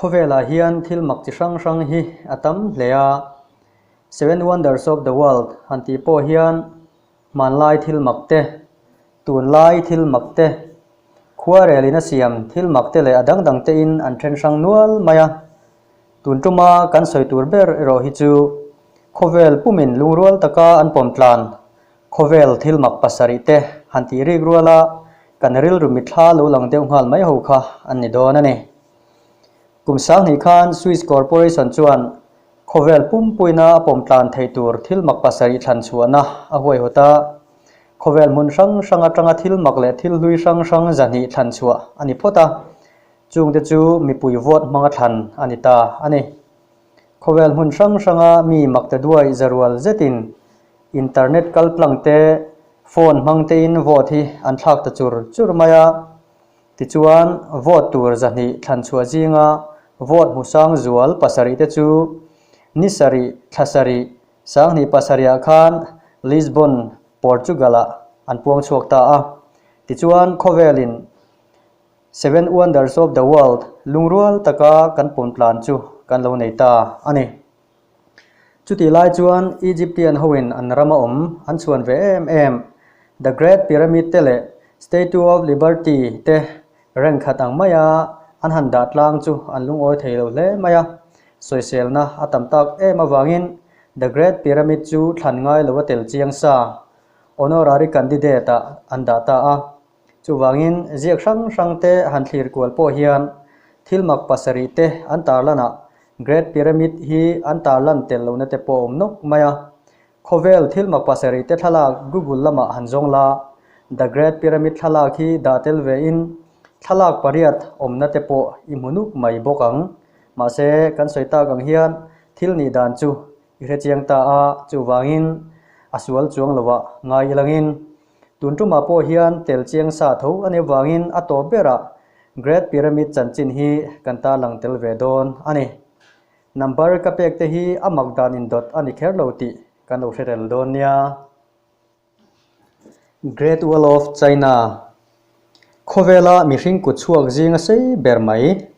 Khawvelah hian thil mak chi hrang hrang hi a tam hle a, Seven Wonders of the World han tih pawh hian hmanlai thil mak te, tunlai thil mak te, khuarelin a siam thil mak te leh a dang dang tein an then hrang nual mai a. Tun tuma kan sawi tur ber erawh hi chu khawvel pumin lungrual taka an pawm tlan. Khawvel thil mak pasarih te han tih rik rual a, kan rilru mitthla lo lang deuh nghal mai ho kha an ni dawn a ni. Kum sanghnih khan Swiss Corporation chuan khawvel pumpuina a pawm tlan thei tur thil mak pasarih thlan chhuahna a huaihawt a, khawvel hmun hrang hrang atanga thil mak leh thil hlui hrang hrang zahnih thlan chhuah a ni phawt a, Chung te chu mipui vote hmang a thlan a ni ta a ni. Khawvel hmun hrang hranga mi makte duai za rual zetin internet kalplang te, phone hmang te in vote hi an thlak ta chur chur mai a. Tichuan vote tur zahnih thlan chhuah zinga vote hmu sang zual pasarih te chu ni sarih, thla sarih, sanghnih pasarih ah khan Lisbon, Portugal ah an puang chhuak ta a. Tichuan khawvelin. Seven Wonders of the World lungrual taka kan pawn tlan chu kan lo nei ta a ni. Chutih lai chuan Egyptian hoin an rama awm an chhuan ve em em. The Great Pyramid te leh Statue of Liberty te reng khat ang maia an han dah tlang chu an lungawi thei lo hle mai a. Sawiselna a tam tak em avangin The Great Pyramid chu thlan ngai lo a tel chiang sa, Honorary Candidate, ah an dah ta a. Chuvangin, ziak hrang hrangte han thlir kual pawh hian thil mak pasarihte an tarlanah Great Pyramid hi an tarlan tel lohna te pawh a awm nawk mai a. Khawvel thil mak pasarihte thlalak Google lamah han zawng la, The Great Pyramid thlalak hi dah tel vein thlalak pariat awmna te pawh i hmu nuk mai bawk ang. Mahse, kan sawi tak ang hian thil nih dan chu i hre chiang ta a, chuvangin a sual chuang lovah ngai i langin, Tun ṭumah pawh hian tel chiang sa tho a nih avangin a tawp berah Great Pyramid chanchin hi kan tarlang tel ve dawn a ni. Number ka pekte hi a mak dan indawt a ni kher lo tih ka nu hrerel dawn nia. Great Wall of China. Khawvela mihring kut chhuak zinga sei ber mai.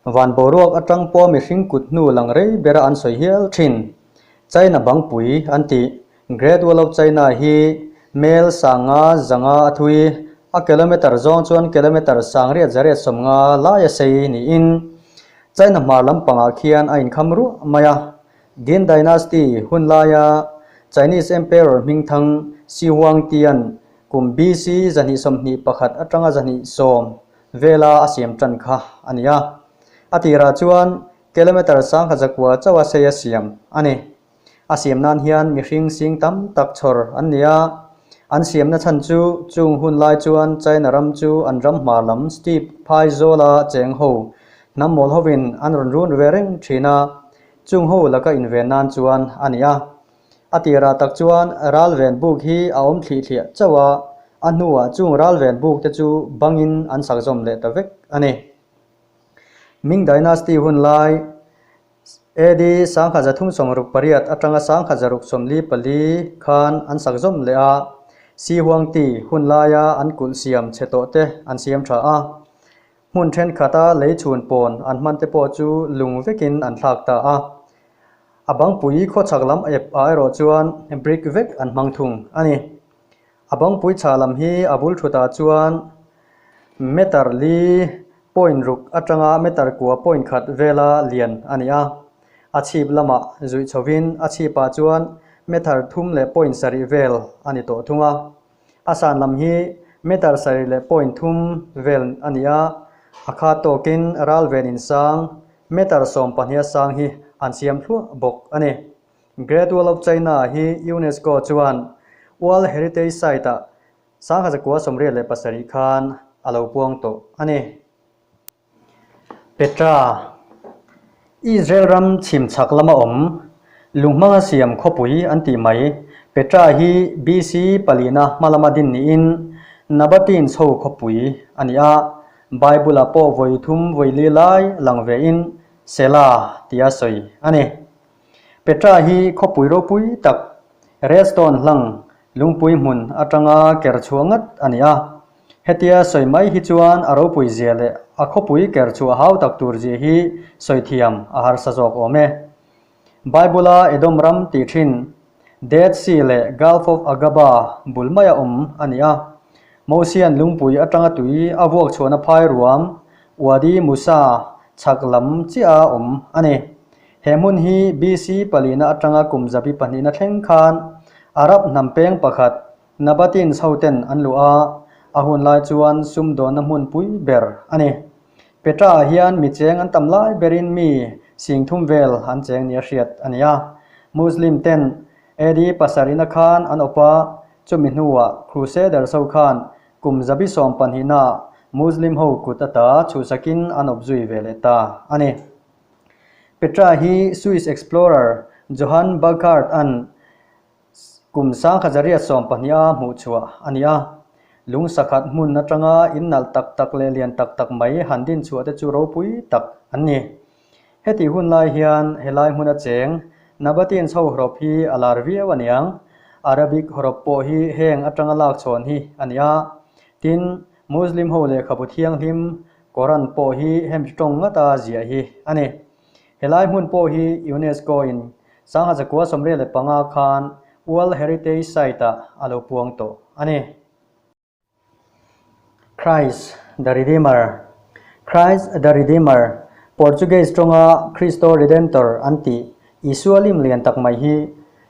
Van boruak atang pawh mihring kut hnu lang rei bera an sawi hial thin. China bangpui an ti. Great Wall of China hi mel sanga zanga a thui, a kilometre zawng chuan kilometre sang riat za riat sawm nga lai a sei niin China hmar lampangah khian a inkham ruah mai a. Qin Dynasty hun laia Chinese Emperor hmingthang Shi Huangtian Kum BC zahnih sawmhnih pakhat atanga zahnih sawm vela a siam tan kha a ni a. A tirah chuan kilometre sangkhat zakua chauha sei a siam a ni. A siam nan hian mihring sing tam tak chhawr an ni a. An siamna chhan chu chung hun lai chuan China ram chu an ram hma lam steppe phai zawla cheng ho hnam mawl hovin an rawn run ve reng thin a, chung ho laka inven nan chuan a ni a. A ti rah tak chuan ralven buk hi a awm thlih thliah chauh a, a hnuah chung ralven buk te chu bangin an sak zawm leh ta vek a ni. Ming Dynasty hun lai AD Sangkhatza Thungsawm Ruk Pariat atanga Sangkhatza Ruk Sawmli pali khan an sak zawm leh a, Sihuangti hun laia an kulh siam chhe tawh te an siam tha a. Hmun thenkhatah lei chhun pawn an hman te pawh chu lung vekin an thlak ta a. A bangpui khawchhak lam ep ah erawh chuan brick vek an hmang thung a ni. A bangpui chhah lam hi a bul thutah chuan meter li point ruk atanga meter kua point khat vela lian a ni a. A chhip lamah zuih chhohin a chhipah chuan meter thum leh point sarih vel a ni tawh thung a. A san lam hi meter sarih leh point thum vel a ni a, a khat tawkin ral ven insang meter sawm pahniha sang hi an siam thluah bawk a ni. Great Wall of China hi UNESCO chuan World Heritage Site-ah sangha zakua sawmriat leh pasarih khan a lo puang tawh a ni. Petra, Israel ram chhimchhak lama awm lunghmanga siam khawpui an tih mai. Petra hi BC palina hmalama din niin Nabatin chho khawpui a ni a, Bible-ah pawh vawi thum vawi li lai lang vein Sela tia sawi a ni. Petra hi khawpui ropui tak, red stone hlang, lungpui hmun atanga ker chhuah ngat a ni a. Hetia sawi mai hi chuan a ropui zia leh a khawpui ker chu a hau tak tur zia hi sawi thiam a harsa zawk awm e. Bible-a Edom ram tih thin Dead Sea leh Gulf of Agaba bul maia awm a ni a. Mosian lungpui atanga tui a vuak chhuahna phai ruam Wadi Musa chhak lam chiaha awm a ni. He hmun hi BC palina atanga kum zabi pahnihna thleng khan Arab hnam peng pakhat Nabatin sauten an luh a, a hun lai chuan sumdawnna hmun pui ber a ni. Petra-ah hian mi cheng an tam lai berin mi sing thum vel an cheng ni a hriat a ni a. Muslim ten AD pasarihna khan an awp a, chumi hnuah Crusader so khan kum zabi sawm pahnihnaah Muslim ho kut a ta chhuhsakin an awp zui ve leh ta a ni. Petra hi Swiss explorer Johann Burckhardt-a'n Kum sangkhat zariat sawm pahniha hmuh chhuah a ni a, lungsa khat hmun atanga in nalh tak tak leh lian tak tak mai han din chhuah te chu ropui tak an ni. Heti hun lai hian helai hmun acheng Nabateans ho hrop hi a lar viau a niang, Arabic hrop pawh hi heng atanga lak chhawn hi a ni a, tin, Muslim ho lehkhabu thianghlim Koran pawh hi hemi tawng ngata ziah hi a ni. Helai hmun pawh hi UNESCO-in Sangha Zakua Sawmriat leh Panga khan World Heritage Site-ah a lo puang tawh a ni. Christ the Redeemer Christ the Redeemer, Portuguese tawnga Kristo Redentor an tih Isua lim lian tak mai hi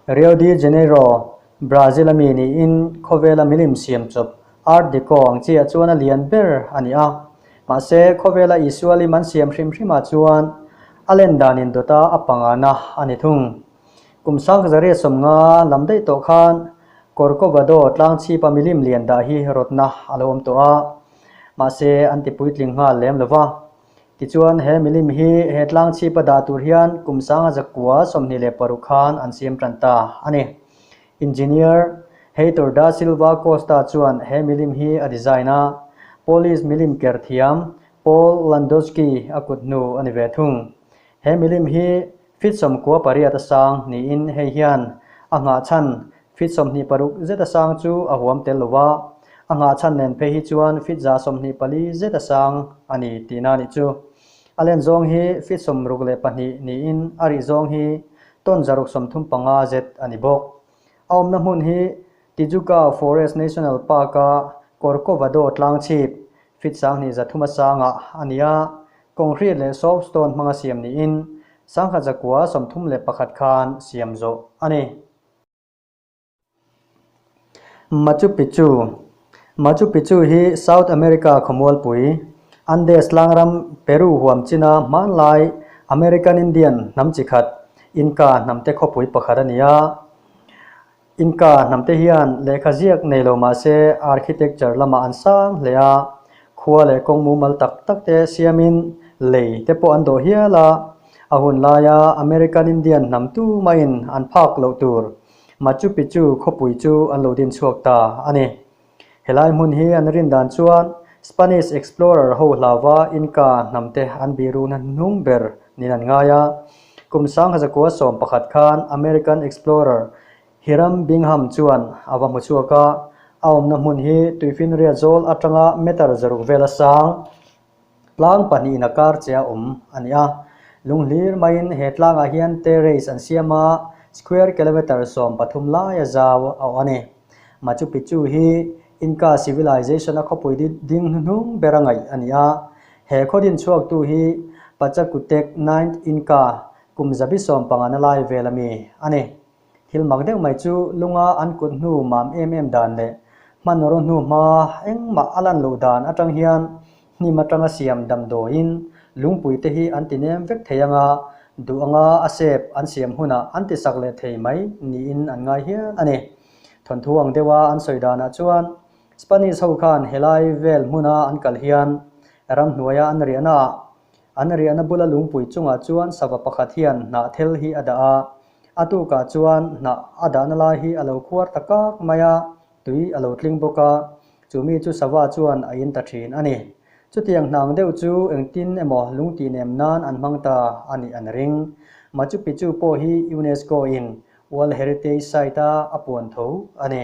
Rio de Janeiro Brazil a mi niin khawvela milim siam chawp Art Deco ang chiah chuan a lian ber a ni a. Mahse, khawvela Isualim an siam hrim hrimah chuan a len danin dawta a pangana a ni thung. Kum Sangkazariah sawmnga lam daih tawh khan Corcovado tlangchhipa milim lian dah hi rawtna a lo awm tawh a, mahse an ti puitling nghal lem lo va. Tichuan, he milim hi he tlang chhipa dah tur hian kum sanga zakua sawmhnih leh paruk khan an siam tan ta a ni. Engineer Heitor da Silva Costa chuan he milim hi a design a, Polish milim ker thiam Paul Landowski a kut hnu a ni ve thung. He milim hi Fitsawm kua pariat a sang niin hei hian a nghah chhan fit sawmhnih paruk zet a sang chu a huam tel lo va, a nghah chhan nen phei hi chuan fit za sawmhnih pali zet a sang a ni tihna a nih chu. A len zawng hi fit sawm ruk leh pahnih niin a rih zawng hi tawn za ruk sawm thum panga zet a ni bawk. A awmna hmun hi Tijuca Forest National Park-a Corcovado tlang chhip feet sanghnih za thuma sangah a ni a, concrete leh soap stone hmanga siam niin sangha zakua sawmthum leh pakhat khan siam zawh a ni. Machu Picchu Machu Picchu hi South America khawmualpui, Andes tlangram Peru huam china hmanlai American Indian hnam chi khat, Inca hnamte khawpui pakhat a ni a. Inca hnamte hian lehkha ziak nei lo mah se architecture lama an sang hle a, khua leh kawng mumal tak tak te siamin lei te pawh an dawh hial a. A hun laia American Indian hnam tu maiin an phak loh tur Machu Picchu khawpui chu an lo din chhuak ta a ni. Helai hmun hi an rin dan chuan Spanish explorer ho hlava Inca hnam te an biru na hnung ber niin an ngai a. Kum sangha zakua sawm pakhat khan American explorer Hiram Bingham chuan a va hmu chhuak a, a awmna hmun hi tuifinriat zawl atanga meter zaruk vel a sang. Tlang pahnihin a kar che a awm a ni a. Lung hlir maiin he tlangah hian terrace an siam a, square kilometre sawm pathum laia zau a awm a ni. Machu Picchu hi Inca Civilization-a khawpui ding hnuhnung bera ngaih a ni a. He khawdin chhuaktu hi Pachacutec, Ninth Inca, kum zabi sawm pangana lai vel a mi a ni. Thil mak deuh mai chu lunga an kut hnu mam em em dan leh hmanraw hnu hma engmah a lan loh dan atang hian hnim atanga siam damdawiin lungpui te hi an tinem vek thei anga duh anga a sep an siam hunah an tisak leh thei mai niin an ngai hial a ni. Thawnthu ang deuha an sawi danah chuan Spanish ho khan helai vel hmuna an kal hian ramhnuaia an riahnaah An riahna bula lungpui chungah chuan sava pakhat hian hnah thel hi a dah a, a tukah chuan hnah a dahna lai hi a lo khuar ta kak mai a, tui a lo tling bawk a, chu mi chu sava chuan a in ta thin a ni. Chutiang hnang deuh chu engtin emaw lungtih nem nan an hmang ta a nih an ring. Machu Picchu pawh hi UNESCO-in World Heritage Site-a a puan tho a ni.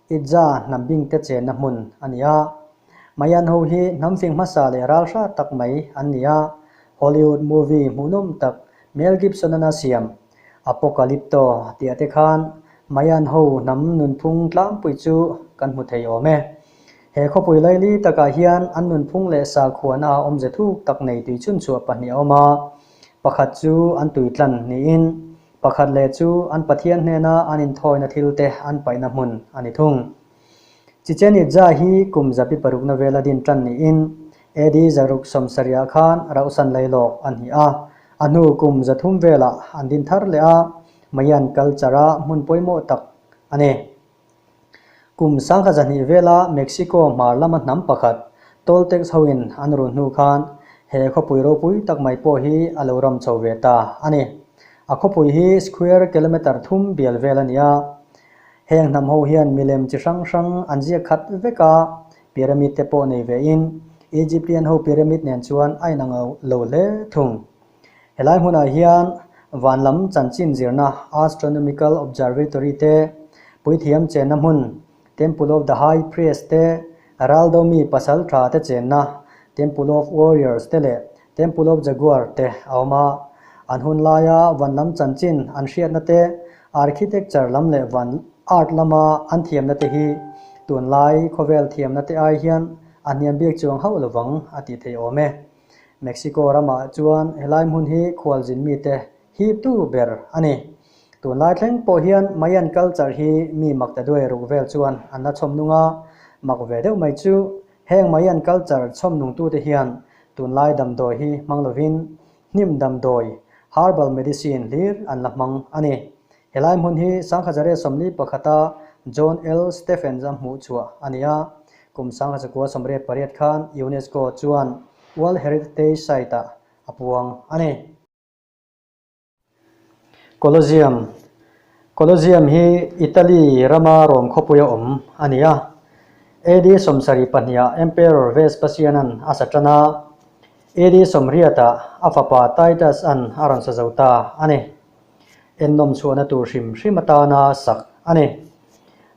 Itza hnambing te chenna hmun a ni a. Mayan ho hi hnamfing hmasa leh ralhra tak mai an ni a. Hollywood movie hmuhnawm tak Mel Gibson an a siam Apocalypto tih a te khan Mayan ho hnam nunphung tlampui chu kan hmu thei awm e. He khawpui laili takah hian an nunphung leh sakhuana a awmze thuk tak nei tui chhunchhuah pahnih a awm a, pakhat chu an tui tlan niin Pakhat leh chu an Pathian hnena an inthawina thil te an paihna hmun a ni thung. Chichen Itza hi kum zapi parukna vela din tan niin AD zaruk sawm sarihah khan rauhsan lei lawk a hnih a, a hnu kum za thum velah an din thar leh a, Mayan culture-a hmun pawimawh tak a ni. Kum sangha zahnih vela Mexico hmar lama hnam pakhat toll tax hoin an run hnu khan he khawpui ropui tak mai pawh hi a lo ram chho ve ta a ni. A khawpui hi square kilometre thum bial vel a ni a. Heng hnam ho hian milem chi hrang hrang an ziak khat vek a, pyramid te pawh nei vein Egyptian ho pyramid nen chuan a inang lo hle thung. Helai hmunah hian van lam chanchin zirna, astronomical observatory, te, puithiam chenna hmun, temple of the high priest, te, raldo mi pasal tha te chenna, temple of warriors, te leh temple of jaguar, te, a awm a. An hun laia van lam chanchin an hriatna te, architecture lam leh van art lama an thiamna te hi tunlai khawvel thiamna te ai hian a hniam biak chuang hauh lovang a tih theih awm e. Mexico ramah chuan helai hmun hi khualzin mite hihtu ber a ni. Tunlai thleng pawh hian Mayan culture hi mi Mactaduay ruh vel chuan an la chhawm nung a, mak ve deuh mai chu heng Mayan culture chhawm nungtute hian tunlai damdawi hi hmang lovin hnim damdawi, herbal medicine, hlir an la hmang a ni. Helai hmun hi Sanghazaria sawmli pakhata John L. Stephens a hmuh chhuah a ni a. Kum Sanghazakuaa sawmriat pariat khan UNESCO chuan World Heritage Site-a a puang a ni. Colosseum Colosseum hi Italy rama Rome khawpuia awm a ni a. AD sawmsarih pahniah Emperor Vespasian-a'n a sa tan a, AD sawmriatah a fapa Titus-a'n a rawn sa zo ta a ni. Ennawm chhuahna tur hrim hrim atana sak a ni.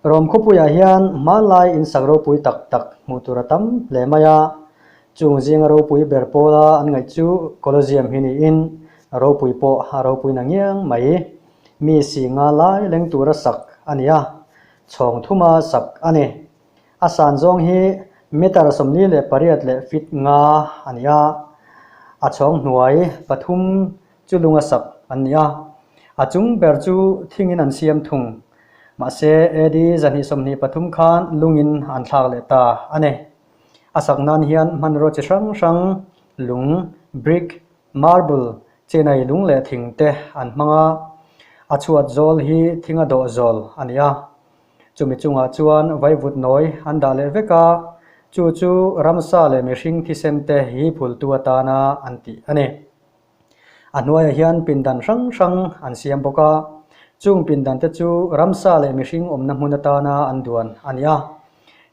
Rom khawpuiah hian hmanlai insak ropui tak tak hmuh tur a tam hle mai a. Chung zinga ropui ber pawla an ngaih chu Colosseum hi niin ropui pawh a ropui na ngiang mai. Mi si nga lai leng tura sak a ni a, chhawng thuma sak a ni. A san zawng hi meter sawmli leh pariat leh feet nga a ni a, a chhawng hnuai pathum Chu lung a sak an ni a, a chung ber chu thingin an siam thung. Mahse, AD. zahnih sawmhnih pathum khan lungin an thlak leh ta a ni. A sak nan hian hmanraw chi hrang hrang, lung, brick, marble, chinai lung leh thing te an hmang a. A chhuat zawl hi thing a dawh zawl a ni a. Chumi chungah chuan vaivut nawi an dah leh vek a, chu chu ramsa leh mihring thisem te hi phultu atana an tih a ni. A hnuaiah hian pindan hrang hrang an siam bawk a, chung pindan te chu ramsa leh mihring awmna hmun atana an duan a ni a.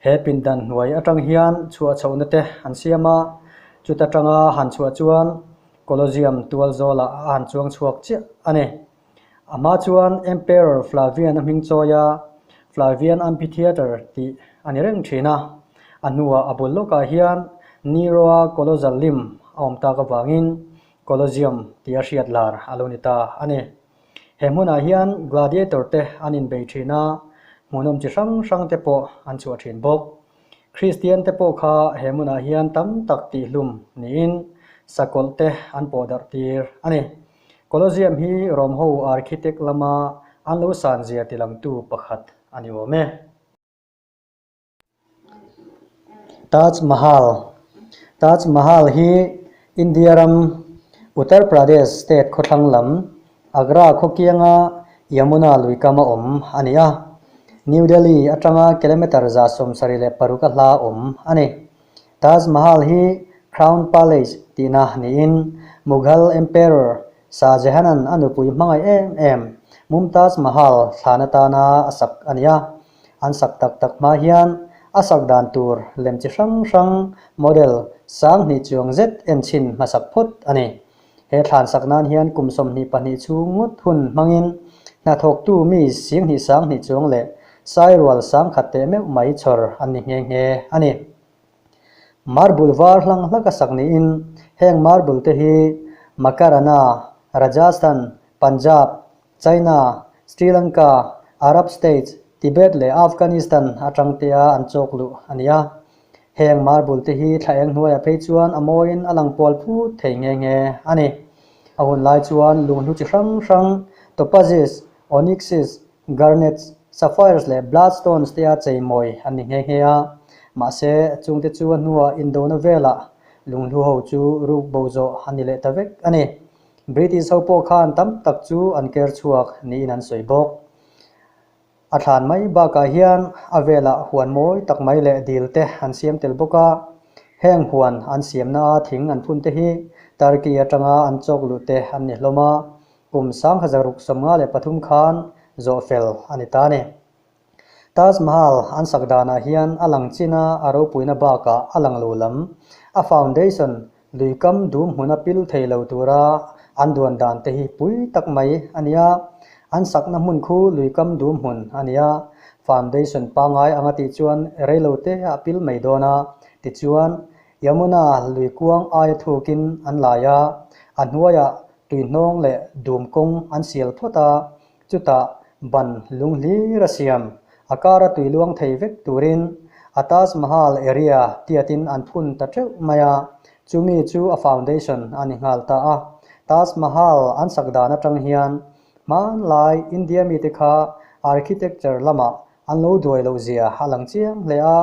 He pindan hnuai atang hian chhuah chhohna te an siam a, chuta tanga han chhuah chuan Colosseum tualzawlah a han chuang chhuak chiah a ni. Amah chuan Emperor Flavian a hming chawi a, Flavian Amphitheatre tih a ni reng thin a. A hnua a bul lawkah hian Nero-a Colossal lim a awm tak avangin Colosseum tih a hriat lar a lo ni ta a ni. He hmunah hian gladiator te an inbei thin a, hmuhnawm chi hrang hrang te pawh an chhuah thin bawk. Kristian te pawh kha he hmunah hian tam tak tihhlum niin sakawlh te an pawh darh tir a ni. Colosseum hi Rome ho architect lama an lo san zia ti lang tu pakhat a ni awm e. Taj Mahal Taj Mahal hi India ram Uttar Pradesh state khawthlang lam Agra khawkianga Yamuna lui kam a awm a ni a. New Delhi atanga kilometre za sawmsarih leh paruk a hla awm a ni. Taj Mahal hi Crown Palace tihna niin Mughal Emperor Shah Jahanan a nupui hmangaih em em Mumtaz Mahal thlan atana a sak a ni a. An sak tak tak hma hian a sak dan tur lem chi hrang hrang, model, sang hnih chuang zet en chhin hmasak phawt a ni. He thlan sak nan hian kum sawmhnih pahnih chhung ngawt hun hmangin hnathawktu mi sianghnih sanghnih chuang leh sairual sangkhat teh meuh mai chawr an ni nghe nghe a ni. Marble var hlang hlaka sak niin heng marble te hi Makarana, Rajasthan, Punjab, China, Sri Lanka, Arab States, Tibet leh Afghanistan atang tea an chawk luh a ni a. Heng marble te hi thla eng hnuaia phei chuan a mawiin a lang pual phut thei nghe nghe a ni. A hun lai chuan luh hnu chi hrang hrang, topazes, onyxes, garnets, sapphires leh bloodstones tea chei mawi an ni nghe nghe a. Mahse, chungte chu a hnua Indona velah lunghlû ho chu ruk bo zawh a ni leh ta vek a ni. British ho pawh khan tam tak chu an ker chhuak niin an sawi bawk. A thlan mai bakah hian a velah huan mawi tak mai leh dil te an siam tel bawk a, heng huan an siamna a thing an phun te hi Turkey atanga an chawk luh te an ni hlawm a, kum sangha zaruk sawmnga leh pathum khan zawh fel a ni ta a ni. Taj Mahal an sak danah hian a lang china a ropuina bakah a lang lo lam, a foundation, lui kam dum hmun a pil thei lo tura an duan dan te hi pui tak mai a ni a. An sakna hmun khu lui kam dum hmun a ni a, foundation pangai anga tih chuan rei lo te a pil mai dawn a, tichuan, Yamuna lui kuang aia thukin an lai a, a hnuaiah tuihnawng leh dum kawng an sial phawt a, Chutah ban lung hlir a siam, a kar a tui luang thei vek turin a Taj Mahal area tiatin an phun ta teuh mai a, chu mi chu a foundation a ni nghal ta a. Taj Mahal an sak dan atang hian hmanlai India mite kha architecture lamah an lo duai loh zia a lang chiang hle a,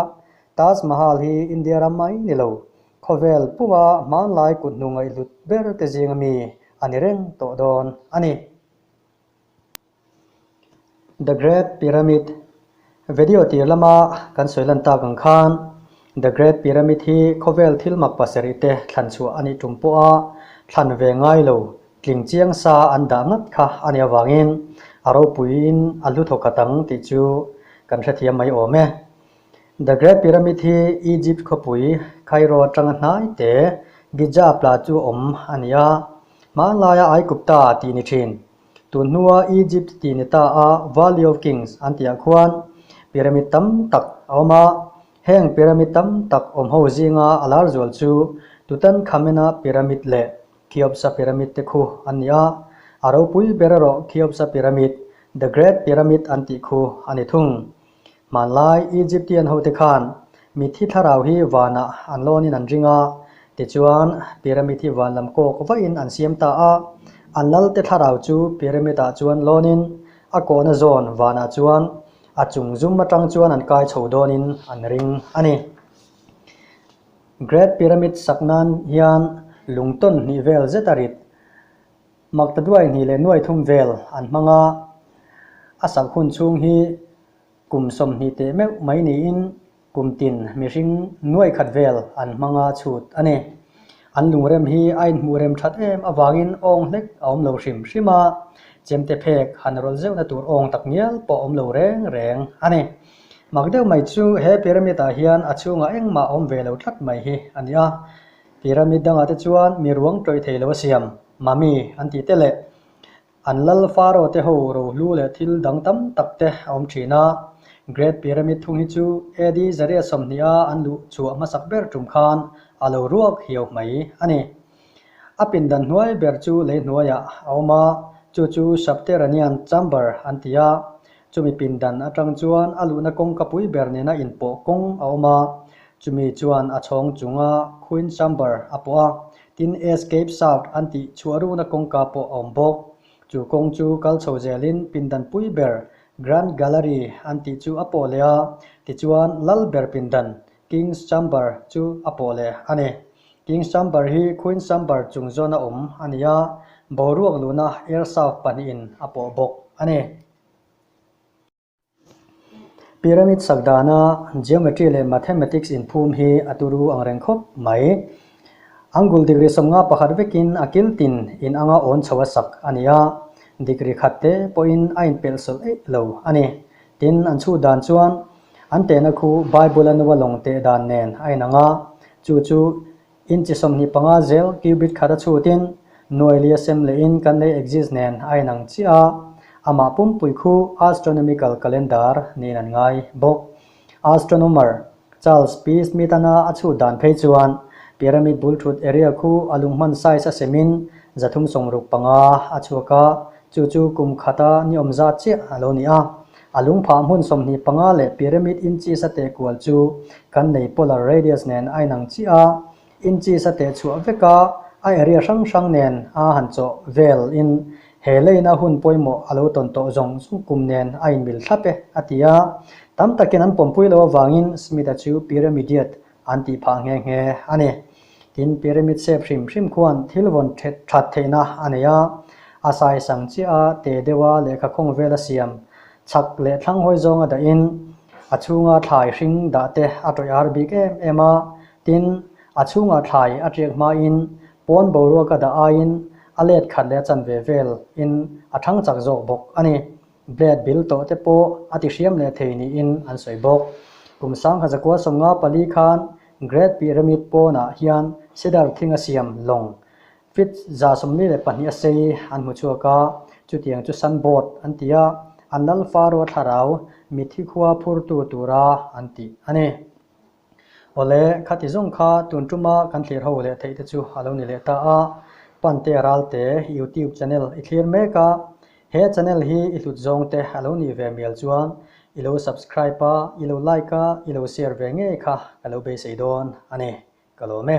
Taj Mahal hi India ram mai ni lo, khawvel puma hmanlai kuthnungaihlut ber te zinga mi a ni reng tawh dawn a ni. The Great Pyramid Video tir lama kan sawi lan tak ang khan The Great Pyramid hi khawvel thil mak pasarih te thlan chhuah a nih ṭum pawh a, thlan ve ngai lo tling chiang sa an dah ngat kha a nih avangin a ropuiin a hlu thawk khat ang tih chu kan hrethiam mai awm e. The Great Pyramid hi Egypt khawpui Cairo atanga hnaite Giza pla chu awm a ni a, hmanlaia Aigupta tih ni thin. Tun hnua Egypt tih ni ta a, Valley of Kings an tihah khuan pyramid tam tak a awm a. Heng pyramid tam tak awm ho zinga a lar zual chu Tutankhamena pyramid leh Kheopsa pyramid te khu an ni a, a ropui ber erawh Kheopsa pyramid, The Great Pyramid an tih khu a ni thung. Hmanlai Egyptian hote khan mithi thlarau hi vanah an lawnin an ring a, tichuan pyramid hi van lam kawk vahin an siam ta a. A lalte thlarau chu pyramid ah chuan lawnin a kawhna zawn vanah chuan a chung zum atang chuan an kai chho dawnin an ring a ni. Great Pyramid sak nan hian lungtawn hnih vel zeta rit Magtaduai hnih leh nuai thum vel an hmang a, a sak hun chhung hi kum sawm hnih teh meuh mai niin kum tin mihring nuai khat vel an hmanga chhut a ni. An lungrem hi a inhmuh rem that em avangin awng hlek a awm lo hrim hrim a, chemte phek han rawlh zeuhna tur awng tak ngial pawh a awm lo reng reng a ni. Magdeuh mai chu he pyramid ah hian a chhungah engmah a awm ve lo tlat mai hi a ni a. Pyramid dangah te chuan mi ruang tawih thei lo a siam, mummy an tih te leh an lal Pharaoh te ho ro hlu leh thil dang tam tak te a awm thin a. Great Pyramid thung hi chu AD zaria sawmhnih a an luh chhuah hmasak ber tum khan a lo ruak hiau hmai a ni. A pindan hnuai ber chu lei hnuaiah a awm a, chu chu subterranean chamber an ti a, Chumi pindan atang chuan a luhna kawngka pui ber nena inpawh kawng a awm a, chumi chuan a chhawng chunga Queen Chamber a pawh a, tin Escape South an tih chhuah runa kawngka pawh a awm bawk. Chu kawng chu kal chho zelin pindan pui ber Grand Gallery an tih chu a pawh leh a, tichuan lal ber pindan King's Chamber, chu a pawh leh a ni. King's Chamber hi Queen's Chamber chung zawn a awm a ni a, boruak luhna Air South pahnihin a pawh bawk a ni. Pyramid sak dana Geometry leh Mathematics inphum hi a turu ang reng khawp mai. Angle degree sawmnga pakhat vekin a kiltin in anga awn chho a sak a ni a, degree khat te pawhin a inpelh sawlh eih lo a ni. Tin, an chhut dan chuan. An tehna khu Bible-a nua lawng teh dan nen a inang a, chu chu inchi sawmhnih panga zel cubit khat a chhutin nuaili a sem leh in kan lei exist nen a inang chiah a. Amah pumpui khu astronomical calendar niin an ngai bawk. Astronomer Charles Pease mitana a chhut dan phei chuan pyramid bul thut area khu a lung hman size a sem in za thum sawng ruk panga a chhuak a, chu chu kum khata ni awm zat chiah a lo ni a. A lungphah hmun sawmhnih panga leh pyramid inches a teh kual chu kan nei polar radius nen a inang chiah a, inches a teh chhuah veka a area hrang hrang nen a han chawh vel in he line a hun pawimawh a lo tawn tawh zawng zawng kum nen a inmil thlap e a ti a. Tam takin an pawmpui lo avangin Smith-a chu pyramided An tih phah nghe nghe a ni. Tin, pyramid shape hrim hrim khuan thil vawn ṭhet ṭhat theihna a nei a. A sai sang chiah a, te deuha lehkha khawng vela siam chhak leh thlang hawi zawnga dahin a chhunga thlai hring dah te a tawih ar bik em em a. Tin, a chhungah thlai a ṭiak hmain pawn boruaka dah aiin a let khat leh a chan ve velin a ṭhang chak zawk bawk a ni. Blade bil tawh te pawh a ti hriam leh thei niin an sawi bawk. Kum sangha zakua sawmnga pali khan Great Pi Remit pawnah hian Cedar thinga siam lawng feet za sawmli leh pahnih a sei an hmu chhuak a, chutiang chu Sun Boat an ti a, an lalfa ruathlarau mithi khua phurtu tura an ti a ni. Awle, khati zawng kha tun tuma kan thlir ho leh theih te chu a lo ni leh ta a. Pante a ral te, YouTube channel i thlir mek a, he channel hi i hlut zawng te a lo nih ve mial chuan i lo subscribe a, i lo like a, i lo share ve ngei kha ka lo beisei dawn a ni. Ka lawm e.